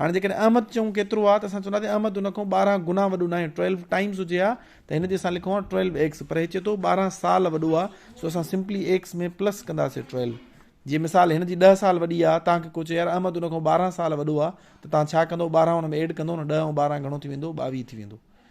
هاڻي جيڪڏهن احمد چئون ڪيترو آ ته اسان چونداسين احمد ان کان ٻارهن گنا وڏو ناهي Twelve Times هجي ها ته هن جي اسان لکون ها Twelve Eggs پر هي چئي ٿو ٻارهن سال وڏو آ سو اسان سمپلي Eggs ۾ پلس ڪنداسين Twelve جي مثال هن جي ڏهه سال وڏي آ توهان کي ڪو چئي يار احمد ان کان ٻارهن سال وڏو آ ته توهان ڇا ڪندو ٻارهن ان ۾ ايڊ ڪندو نه ڏهه ۽ ٻارهن گهڻو ٿي ويندو ٻاويهه ٿي ويندو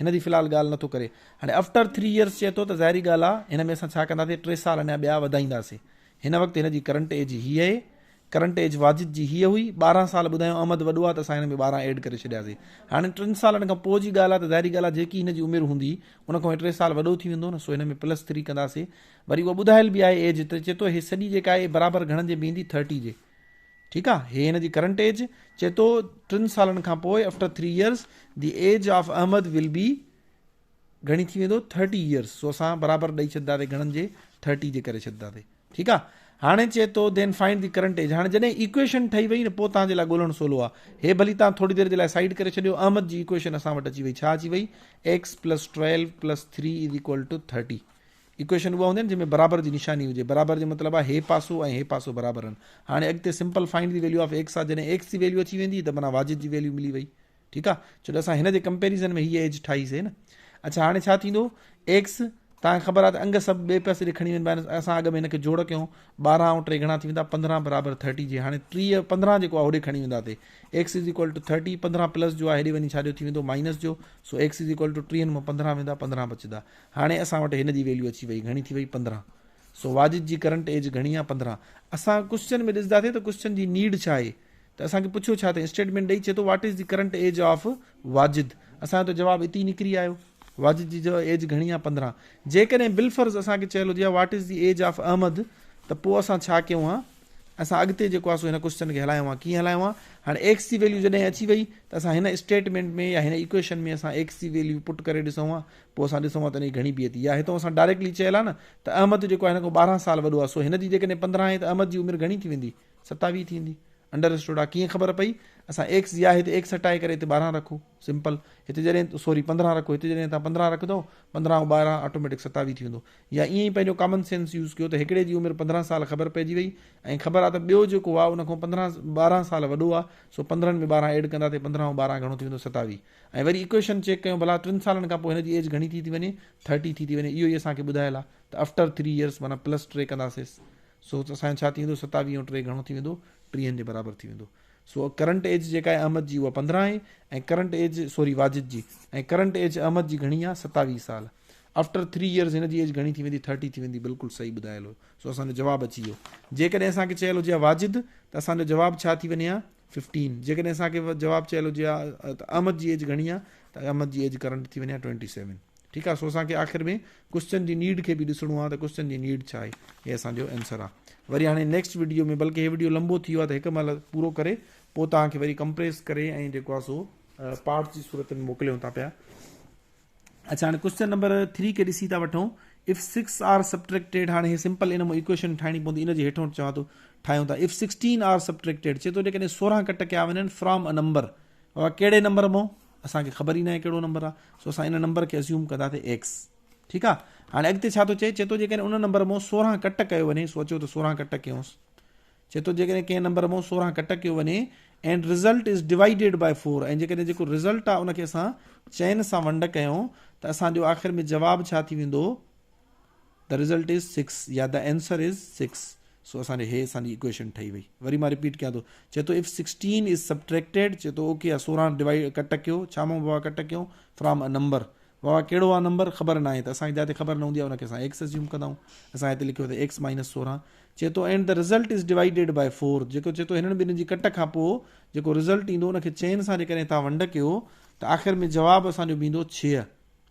هن جي في الحال ڳالهه نه ٿو ڪري. هاڻي افٽر ٿري ايئرس چئي ٿو ته ظاهري ڳالهه آ هن ۾ اسان ڇا ڪنداسين ٽي سال اڃا ٻيا وڌائينداسين. هن وقت هن جي ڪرنٽ ايج هي اهي. ڪرنٽ ايج واجد جي هي هئي. ٻارهن سال ٻڌايو احمد وڏو آ ته اسان هن ۾ ٻارهن ايڊ ڪري ڇڏياسين. هاڻي ٽن سالن کان پوء جي ڳالهه آ ته ظاهري ڳالهه آ جيڪي هن جي عمر هوندي ان کان هي ٽي سال وڏو ٿي ويندو نه سو هن ۾ پلس ٿري ڪنداسين. وري اها ٻڌايل به آهي ايج ته چئي ٿو هي سڄي جيڪا آهي برابر گهڻن جي بيهندي ٿرٽي جي. ٺيڪ آ هي هن جي ڪرنٽ ايج چي ٿو ٽن سالن کان پوء after three years the age of Ahmed will be گھڻي ٿي ويندو ٿرٽي ايئرس سو اسان برابر ڏئي ڇڏنداسي گھڻن جي ٿرٽي جي ڪري ڇڏنداسي ٺيڪ آ هاڻي چي ٿو then find the current age هاڻي جڏهن ايڪويشن ٺهي وئي نه پوء تان جي لاء ڳولڻ سولو آ هي ڀلي تان ٿوري دير جي لاء سائيڊ ڪري ڇڏيو احمد جي ايڪويشن اسان وٽ اچي وئي ڇا اچي وئي x + 12 + 3 = 30 ايڪويشن اها هوندي نه جنهن ۾ برابر جي نشاني هجي برابر جو مطلب آهي هي پاسو ۽ هي پاسو برابر آهن هاڻي اڳتي simple find the value of x آهي جڏهن ايڪس جي ويليو اچي ويندي ته معنيٰ واجد جي ويليو ملي وئي ٺيڪ آهي ڇو جو اسان هن جي ڪمپيريزن ۾ هي ايج ٺاهي سي نه اڇا هاڻي ڇا ٿيندو ايڪس تان خبر آ ته انگ سب بي پاسي دي کڻي ون بائنس اسا اگ ۾ ان کي جوڙ ڪيو 12 او ٽري گھنا ٿي وندا 15 برابر 30 جي هاڻي 30 15 جيڪو آ هوڏي کڻي وندا تي x is equal to 30 15 plus جو آ هيڏي وني ڇا جو ٿي وندو مائنس جو سو x از ايڪوال ٽو 30 مون 15 ويندا 15 بچدا هاڻي اسان وٽ هن جي ويليو اچي وئي گهڻي ٿي وئي پندرهن سو واجد جي ڪرنٽ ايج گهڻي آ پندرهن اسان ڪوسچن ۾ ڏسدا سي ته ڪوسچن جي نيڊ ڇا آهي ته اسان کي پڇيو ڇا ته اسٽيٽمينٽ ڏئي چي ٿو what is the current age of Wajid اسان جو ته جواب اتي نڪري آيو واجد جي جو ايج گهڻي آ پندرهن جيڪڏهن بلفرض اسان کي چيل هجي what is the age of Ahmed ته پوء اسان ڇا ڪيون ها اسان اڳتي جيڪو آ سو هن ڪوسچن کي هلايون ها ڪيئن هلايون ها هاڻي ايڪس جي ويليو جڏهن اچي وئي ته اسان هن اسٽيٽمينٽ ۾ يا هن ايڪويشن ۾ اسان ايڪس جي ويليو پٽ ڪري ڏسون ها پوء اسان ڏسون ها ته انهي جي گهڻي بيعت يا هتئون اسان ڊائريڪٽلي چيل آهي نه ته احمد جيڪو آهي هن کان ٻارهن سال وڏو آهي سو هن جي جيڪڏهن پندرهن آهي ته احمد جي عمر گهڻي ٿي ويندي ستاويهه ٿي ويندي انڊرسٽوڊ آهي ڪيئن خبر پئي اسان ايڪس يا هتي ايڪس هٽائي ڪري هتي ٻارهن رکو سمپل هتي جڏهن سوري پندرهن رکو هتي جڏهن تان پندرهن رکندو پندرهن او ٻارهن آٽوميٽڪ ستاويهه ٿي ويندو يا ائين ئي پنهنجو ڪامن سينس يوز ڪيو ته هڪڙي جي عمر پندرهن سال خبر پئجي وئي ۽ خبر آهي ته ٻيو جيڪو آهي ان کان پندرهن ٻارهن سال وڏو آهي سو پندرهن ۾ ٻارهن ايڊ ڪندا ته پندرهن او ٻارهن گهڻو ٿي ويندو ستاويهه ۽ وري ايڪويشن چيڪ ڪيون ڀلا ٽن سالن کان پوء هن جي ايج گهڻي ٿي ٿي وڃي ٿرٽي ٿي ٿي وڃي اهو ئي اسان کي ٻڌايل آ ته افٽر ٿري ايئرس معنيٰ پلس ٽي ڪنداسيس سو اسان جو ڇا ٿي ويندو ستاويهه ۽ ٽي گهڻو ٿي ويندو ٽيهن جي برابر ٿي ويندو سو ڪرنٽ ايج جيڪا آهي احمد جي اها پندرهن آهي ۽ ڪرنٽ ايج سوري واجد جي ۽ ڪرنٽ ايج احمد جي گهڻي آهي ستاويهه سال آفٽر ٿري ايئرز هن جي ايج گهڻي ٿي ويندي ٿرٽي ٿي ويندي بلڪل صحيح ٻڌايل هو سو اسان جو جواب اچي ويو جيڪڏهن اسان کي چيل هجي واجد ته اسان جو جواب ڇا ٿي وڃي ها ففٽين جيڪڏهن اسان کي جواب چيل هجي ها ته احمد جي ايج گهڻي آهي ته احمد جي ايج ڪرنٽ ٿي وڃي ها ٽوئنٽي سيون ٺيڪ آهي سو اسان کي آخر ۾ ڪوشچن جي نيڊ کي به ڏسڻو آهي ته ڪوشچن جي نيڊ ڇا آهي هي اسان جو آنسر آهي وري هاڻي نيڪسٽ ويڊيو ۾ بلڪه هي ويڊيو لمبو ٿي ويو آهي ته هڪ مهل پورو ڪري پوء توهان کي وري ڪمپريس ڪري ۽ جيڪو آهي سو پارٽس جي صورت ۾ موڪليون ٿا پيا اچا هاڻي ڪوشچن نمبر ٿري کي ڏسي ٿا وٺون اف سڪس آر سبٽريڪٽيڊ هاڻي هي سمپل ان مون ايڪويشن ٺاهڻي پوندي ان جي هيٺون چوان ٿو ٺاهيون ٿا اف سڪسٽين آر سبٽريڪٽيڊ چي ٿو جيڪڏهن سورهن ڪٽ ڪيا وڃن فرام ا نمبر بابا کيڙي نمبر مون اسان کي خبر ئي نه آهي کيڙو نمبر آ سو اسان ان نمبر کي اسيوم ڪندا ته ايڪس ٺيڪ آ هاڻي اڳتي ڇا ٿو چئي چئي ٿو جيڪڏهن ان نمبر مون سورهن ڪٽ ڪيو وڃي سو اچو ته سورهن ڪٽ ڪيونس چئي ٿو جيڪڏهن ڪنهن نمبر مون سورهن ڪٽ ڪيو وڃي and result is divided by 4 ۽ جيڪڏهن جيڪو رزلٽ آ ان کي اسان چئن سان ونڊ ڪيون ته اسان جو آخر ۾ جواب ڇا ٿي ويندو the result is 6 يا the answer is 6 سو اسان جو هي اسان جي اڪويشن ٺهي وئي وري مان رپيٽ ڪيان ٿو چئي ٿو if 16 is subtracted چئي ٿو اوڪي آ 16 ڊيوائيڊ ڪٽ ڪيو ڇا مون بابا ڪٽ ڪيو فرام ا نمبر بابا ڪهڙو آ نمبر خبر نه آهي ته اسان کي جاتي خبر نه هوندي آ ان کي اسان x اسيوم ڪنداون اسان هتي لکيو ته x مائنس 16 چئي ٿو and the result is divided by four جيڪو چئي ٿو هنن ٻنهن جي ڪٽ کان پوء جيڪو رزلٽ ايندو ان کي چئن سان جيڪڏهن توهان ونڊ ڪيو ته آخر ۾ جواب اسان جو بيندو ڇهه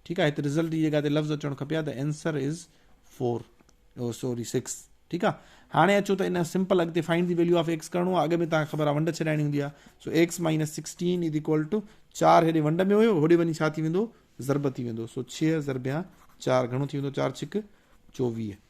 ٺيڪ آهي هتي رزلٽ جي جڳهه تي لفظ اچڻ کپي ها ته answer is four sorry six ٺيڪ آهي هاڻي اچو ته ان سمپل اڳتي find the value of x ڪرڻو آهي اڳ ۾ تان خبر آهي ونڊ ڇڏائڻي هوندي آهي سو x minus sixteen is equal to چار هيڏي ونڊ ۾ هيو هوڏي وڃي ڇا ٿي ويندو ضرب ٿي ويندو سو ڇهه ضربيان چار گهڻو ٿي ويندو چار ڇڪ چوويهه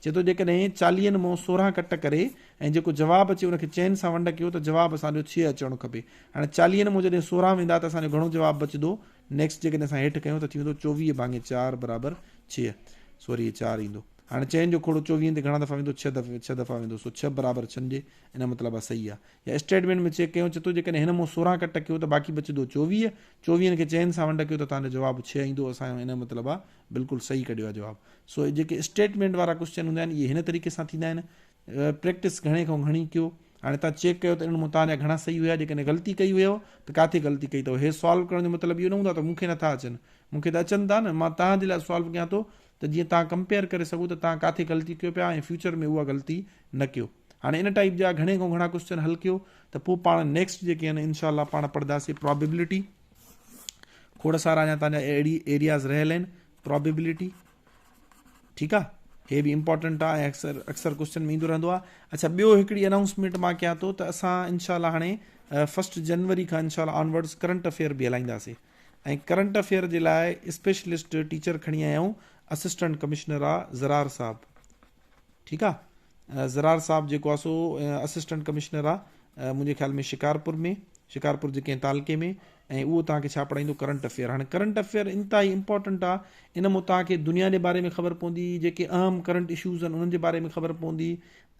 چئي ٿو جيڪڏهن چاليهن مون سورهن ڪٽ ڪري ۽ جيڪو جواب اچي ان کي چئن سان ونڊ ڪيو ته جواب اسان جو ڇهه اچڻ کپي هاڻي چاليهن مون جڏهن سورهن ويندا ته اسان جو گهڻو جواب بچدو نيڪسٽ جيڪڏهن اسان هيٺ ڪيون ته ٿي ويندو چوويهه ڀاڱي چار برابر ڇهه سو وري هي چار ايندو هاڻي چئن جو کوڙو چوويهن تي گهڻا دفعا ويندو ڇهه دفعا ڇهه دفعا ويندو سو ڇهه برابر ڇهن جي ان مطلب آ صحيح آ يا اسٽيٽمينٽ ۾ چيڪ ڪيون چئي ٿو جيڪڏهن هن مون سورهن ڪٽ ڪيو ته باقي بچدو چوويهه چوويهن کي چئن سان ونڊ ڪيو ته تهان جو جواب ڇهه ايندو اسان جو ان جو مطلب آ بلڪل صحيح ڪڍيو آهي جواب. سو اهي جيڪي اسٽيٽمينٽ وارا ڪوسچن هوندا آهن اهي هن طريقي سان ٿيندا آهن پريڪٽس گهڻي کان گهڻي ڪيو هاڻي تان چيڪ ڪيو ته انهن مطالعا گهڻا صحيح هيا جيڪڏهن غلطي ڪئي هيو ته ڪاٿي غلطي ڪئي اٿو هي سالو ڪرڻ جو مطلب اهو نه هوندو ته مون کي نٿا اچن مون کي ته اچن ٿا نه مان تان جي لاء سالو ڪيان ٿو ته جيئن تان ڪمپيئر ڪري سگهو ته تان ڪاٿي غلطي ڪيو پيا ۽ فيوچر ۾ اها غلطي نه ڪيو هاڻي ان ٽائيپ جا گهڻي کان گهڻا ڪوسچن حل ڪيو ته پوء پاڻ نيڪسٽ جيڪي آهن انشاء الله پاڻ پڙهنداسي پرابيبلٽي کوڙ سارا اڃا تانجا اهڙي ايرياز رهيل آهن پرابيبلٽي ٺيڪ آ هي به امپورٽنٽ آ اڪثر اڪثر ڪوشچن ۾ ايندو رهندو آ اچھا ٻيو هڪڙي اناؤنسمينٽ مان ڪيان ٿو ته اسان ان شاء الله هاڻي فرسٽ جنوري کان ان شاء الله آنورڊز ڪرنٽ افيئر به هلائينداسي ۽ ڪرنٽ افيئر جي لاء اسپيشلسٽ ٽيچر کڻي آيا آهيون اسسٽنٽ ڪمشنر آ زرار صاحب ٺيڪ آ زرار صاحب جيڪو آ سو اسسٽنٽ ڪمشنر آ منهنجي خيال ۾ شڪارپور ۾ شڪارپور جي ڪنهن تعلقي ۾ ۽ اهو توهان کي ڇا پڙهائيندو ڪرنٽ افيئر هاڻي ڪرنٽ افيئر انتهائي امپورٽنٽ آ ان مون توهان کي دنيا جي باري ۾ خبر پوندي جيڪي اهم ڪرنٽ اشوز آهن انهن جي باري ۾ خبر پوندي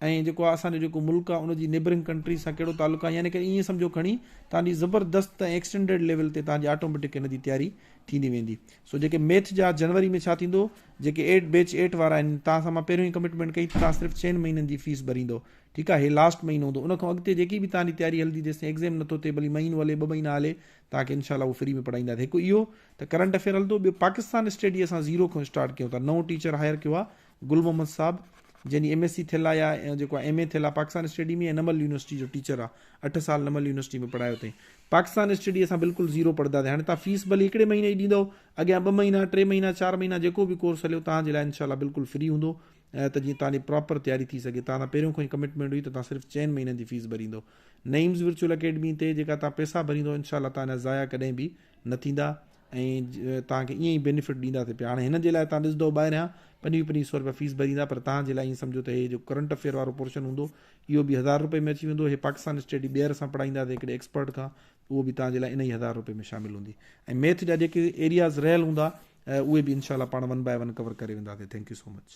۽ جيڪو آ اسان جو جيڪو ملڪ آ ان جي نيبرنگ ڪنٽري سان ڪهڙو تعلق آ يعني ڪري ائين سمجهو کڻي توهان جي زبردست ۽ ايڪسٽينڊيڊ ليول تي توهان جي آٽوميٽڪ ان جي تياري ٿيندي ويندي سو جيڪي ميٿ جا جنوري ۾ ڇا ٿيندو جيڪي ايٽ بيچ ايٽ وارا آهن توهان سان مان پهريون ئي ڪمٽمينٽ ڪئي ته توهان صرف چئن مهينن جي فيس ڀريندو ٺيڪ آهي هي لاسٽ مهينو هوندو ان کان اڳتي جيڪي به توهان جي تياري هلندي جيستائين ايگزيم نٿو ٿئي ڀلي مهينو هلي ٻه مهينا هلي توهان کي انشاء الله اهو فري ۾ پڙهائينداسين هڪ اهو ته ڪرنٽ افيئر هلندو ٻيو پاڪستان اسٽڊي اسان زيرو کان اسٽارٽ ڪيون ٿا نئون ٽيچر هائر ڪيو آهي گل محمد صاحب جنهن جي ايم ايس سي ٿيل آهي يا جيڪو آهي ايم اي ٿيل آهي پاڪستان اسٽڊي ۾ نمل يونيورسٽي جو ٽيچر آهي اٺ سال نمل يونيورسٽي ۾ پڙهايو اٿئي پاڪستان اسٽڊي اسان بلڪل زيرو پڙهنداسين هاڻي تان فيس ڀلي هڪڙي مهيني جي ڏيندو اڳيان ٻه مهينا، ٽي مهينا، چار مهينا جيڪو به ڪورس هليو توهان جي لاء انشاء الله بلڪل فري هوندو ته جيئن توهان جي پراپر تياري ٿي سگهي توهان سان پهريون کان ئي ڪمٽمينٽ هئي ته توهان صرف چئن مهينن جي فيس ڀريندو نعيمز ورچوئل اڪيڊمي تي جيڪا توهان پئسا ڀريندو انشاء الله توهان جا ضايع ڪڏهن به نه ٿيندا ۽ توهان کي ائين ئي بينيفٽ ڏينداسي پيا هاڻي هن جي لاء توهان ڏسندو ٻاهريان پنجويهه پنجويهه سؤ رپيا فيس ڀريندا پر توهان جي لاء ائين سمجهو ته هي جو ڪرنٽ افيئر وارو پورشن هوندو اهو به هزار رپئي ۾ اچي ويندو هي پاڪستان اسٽيڊي ٻيهر اسان پڙهائينداسي هڪڙي ايڪسپرٽ کان اهو به توهان جي لاء انهي هزار روپي ۾ شامل هوندي ۽ ميٿ جا جيڪي ايرياز رهيل هوندا اهي به انشاء الله پاڻ ون باء ون ڪور ڪري وينداسين ٿينڪ يو سو مچ.